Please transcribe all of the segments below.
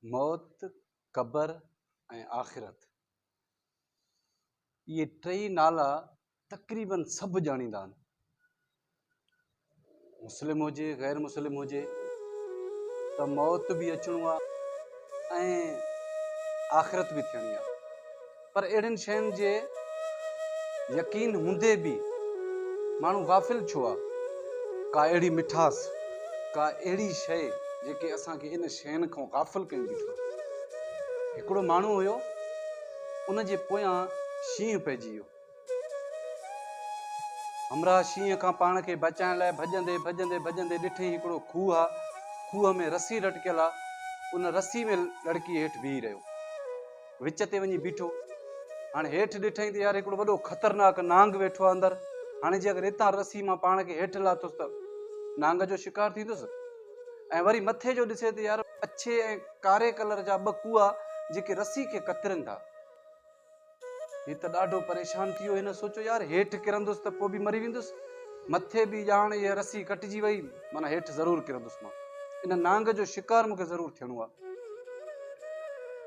موت، قبر ۽ آخرت اهي ٽئي نالا تقريبن سڀ ڄاڻيندا آهن مسلم هجي غير مسلم هجي ته موت به اچڻو آهي ۽ آخرت به ٿيڻي آهي پر اهڙين شين جي يقين هوندي به ماڻهو غافل ڇو آ؟ ڪا اهڙي مٺاس، ڪا اهڙي شيء جيڪي اسان کي ان شين کان غافل ڪيون بيٺو آ. هڪڙو ماڻهو هيو، ان جي پويان شينهن پئجي ويو. همراهه شينهن کان پاڻ کي بچائڻ لاء ڀڄندي ڀڄندي ڀڄندي ڏٺئي هڪڙو کوهه آ، کوهه ۾ رسي لٽڪيل آ، ان رسي ۾ لڙڪي هيٺ بيهي رهيو. وچ تي وڃي بيٺو هاڻي هيٺ ڏٺائين ته يار هڪڙو وڏو خطرناڪ نانگ ويٺو آهي اندر هاڻي جي اگر هتان رسي مان پاڻ کي هيٺ لاتس ته نانگ جو شڪار ٿيندس ۽ وري مٿي جو ڏسي ته يار اڇي ۽ ڪاري ڪلر جا ٻه ڪوئا جيڪي رسي کي ڪترن ٿا هي ته ڏاڍو پريشان ٿي ويو هن سوچو يار هيٺ ڪرندس ته پوء به مري ويندس مٿي به ڄاڻ هي رسي ڪٽجي وئي مانا هيٺ ضرور ڪرندس مان ان نانگ جو شڪار مونکي ضرور ٿيڻو آهي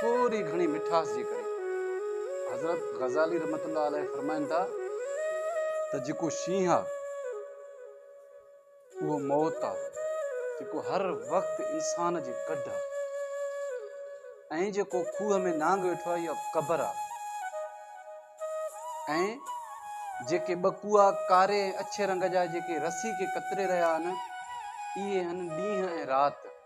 ٿوري گهڻي مٺاس جي ڪري. حضرت غزالي رحمة الله عليه فرمائن ٿا ته جيڪو شينهن آ اهو موت آ جيڪو هر وقت انسان جي ڪڍ آ ۽ جيڪو کوهه ۾ نانگ ويٺو آ اها قبر آ ۽ جيڪي ٻڪوئا ڪاري ۽ اڇي رنگ جا جيڪي رسي کي ڪتري رهيا آهن اهي هن ڏينهن ۽ رات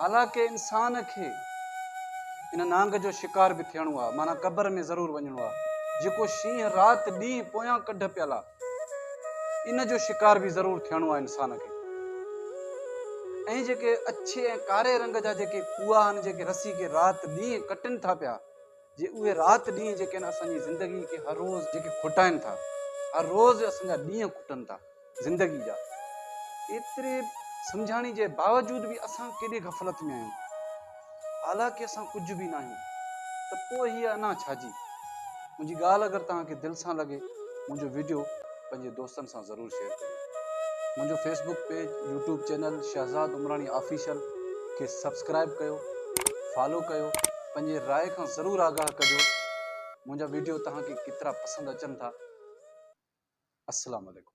حالانڪه انسان کي ان نانگ جو شڪار به ٿيڻو آ معنيٰ قبر ۾ ضرور وڃڻو آ جيڪو شينهن رات ڏينهن پويان ڪڍ پيل آ ان جو شڪار به ضرور ٿيڻو آ انسان کي ۽ جيڪي اڇي ۽ ڪاري رنگ جا جيڪي کوئا آهن جيڪي رسي کي رات ڏينهن ڪٽن ٿا پيا جي اهي رات ڏينهن جيڪي آهن اسانجي زندگي کي هر روز جيڪي کٽائن ٿا هر روز اسانجا ڏينهن کٽن ٿا زندگي جا ايتري سمجهاڻي جي باوجود به اسان ڪيڏي غفلت ۾ آهيون حالانڪه اسان ڪجهه به ناهيون ته پوء هيء انا ڇا جي منهنجي ڳالهه اگر توهان کي دل سان لڳي منهنجو ويڊيو پنهنجي دوستن سان ضرور شيئر ڪريو منهنجو Facebook page YouTube channel Shahzad Umrani official کي سبسڪرائب ڪيو فالو ڪيو پنهنجي راء کان ضرور آگاهه ڪجو منهنجا ويڊيو توهان کي ڪيترا پسند اچن ٿا السلام عليڪم